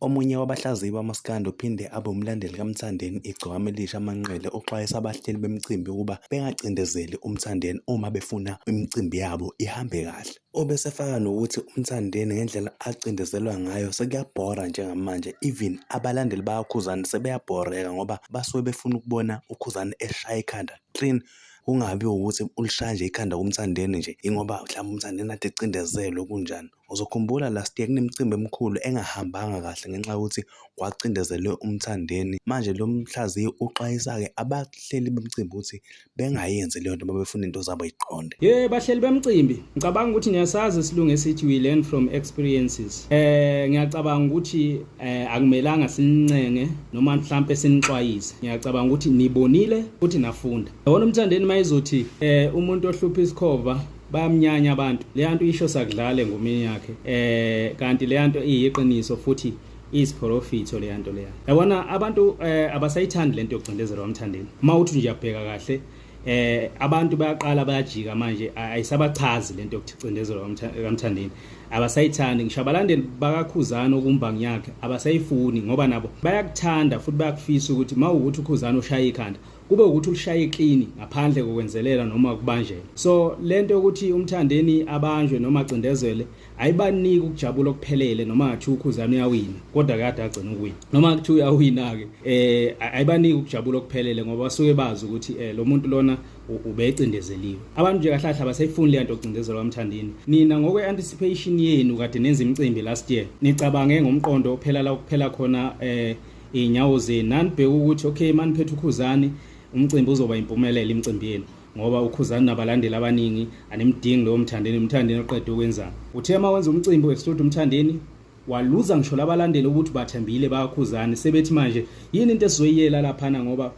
Omunye wabahlaziyi bamaskandi ophinde abe umlandeli kaMthandeni iGcokama Elisha Manqele uxwayisa abahleli bemicimbi ukuba bengacindezeli uMthandeni uma befuna imicimbi yabo ihambe kahle. Ubesefaka nokuthi uMthandeni ngendlela acindezelwa ngayo sekuyabhora njengamanje even abalandeli bakaKhuzani sebeyabhoreka ngoba basuke befuna ukubona uKhuzani eshaya ikhanda clean kungabi ukuthi ulishaya nje ikhanda kuMthandeni nje ingoba mhlawumbe uMthandeni ade ecindezelwe kunjani. Uzokhumbula last year kunemicimbi emikhulu engahambanga kahle ngenxa yokuthi kwacindezelwe umthandeni. Manje lo mhlaziyi uxwayisa-ke abahleli bemcimbi ukuthi bengayenzi leyo nto uma befuna into zabo iqonde. Ye bahleli bemcimbi ngicabanga ukuthi niyasazi isilungu esithi we learn from experiences. Eh ngiyacabanga ukuthi eh akumelanga sinincenge noma mhlampe sinixwayise. Ngiyacabanga ukuthi nibonile futhi nafunda. Yabona umthandeni mayizothi eh umuntu ohlupha isikhova bayamnyanya abantu leyanto isho sakudlale ngomini yakhe eh kanti leyanto iyiqiniso futhi isiphorofitho leyanto leya yabona abantu eh, abasayithandi lento yokucindezela wamthandeni uma uthi nje uyabheka kahle eh abantu bayaqala bayajika manje ayisabachazi lento yokuthi cindezelo kamthandeni abasayithandi ngisho abalandeli bakakhuzana okumbango yakhe abasayifuni ngoba nabo bayakuthanda futhi bayakufisa ukuthi mawukuthi ukhuzana ushaya ikhanda kube ukuthi ulishaye clean ngaphandle kokwenzelela noma kubanjela so lento yokuthi umthandeni abanjwe noma acindezele ayibaniki ukujabula okuphelele noma ngathi ukhuzana uyawina kodwa kade agcina ukuwina noma kuthi uyawina ke eh ayibaniki ukujabula okuphelele ngoba basuke bazi ukuthi eh lo muntu lona ubecindezeliwe abantu nje kahlahla basayifuni lento ocindezelwa umthandini nina ngokwe anticipation yenu kade nenza imicimbi last year nicabange ngomqondo ophela la kuphela khona eh iy'nyawo zenu nanibheke ukuthi okay maniphethe ukhuzani umcimbi uzoba impumelelo imicimbi yenu ngoba ukhuzani nabalandeli abaningi animdingi lowo mthandeni umthandeni oqede ukwenzani uthe uma wenza umcimbi u-extrude umthandeni waluza ngisho labalandeli ukuthi bathembile bayakhuzani sebethi manje yini into esizoyiyela laphana ngoba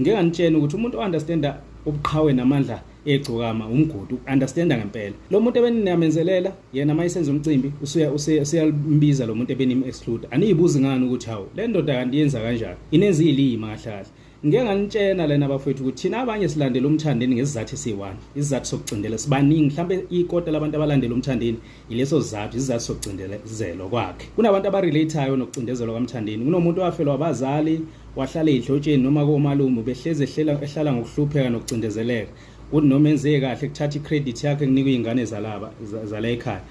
ngike nganitshena ukuthi umuntu o-understanda ubuqhawe namandla egcokama umgodi uku-understanda ngempela lo muntu ebeninamenzelela yena uma isenza umcimbi usuyambiza lo muntu ebenimu-exclude aniyibuzi ngani ukuthi hawu le ndoda kanti yenza kanjani inenza iyilima kahlahle ngike nganitshena lena bafowethu ukuthi thina abanye silandela umthandeni ngesizathu esiyi-one isizathu sokucindela sibaningi mhlawumbe ikota labantu abalandela umthandeni yileso sizathu isizathu sokucindezelwa kwakhe kunabantu abarelateayo nokucindezelwa kwamthandeni kunomuntu owafelwa abazali wahlala ey'dlotsheni noma komalume ubehlezi ehlala ngokuhlupheka nokucindezeleka kuthi noma enzeke kahle kuthatha i-credit yakhe kunikwa iy'ngane zalaba zala ekhaya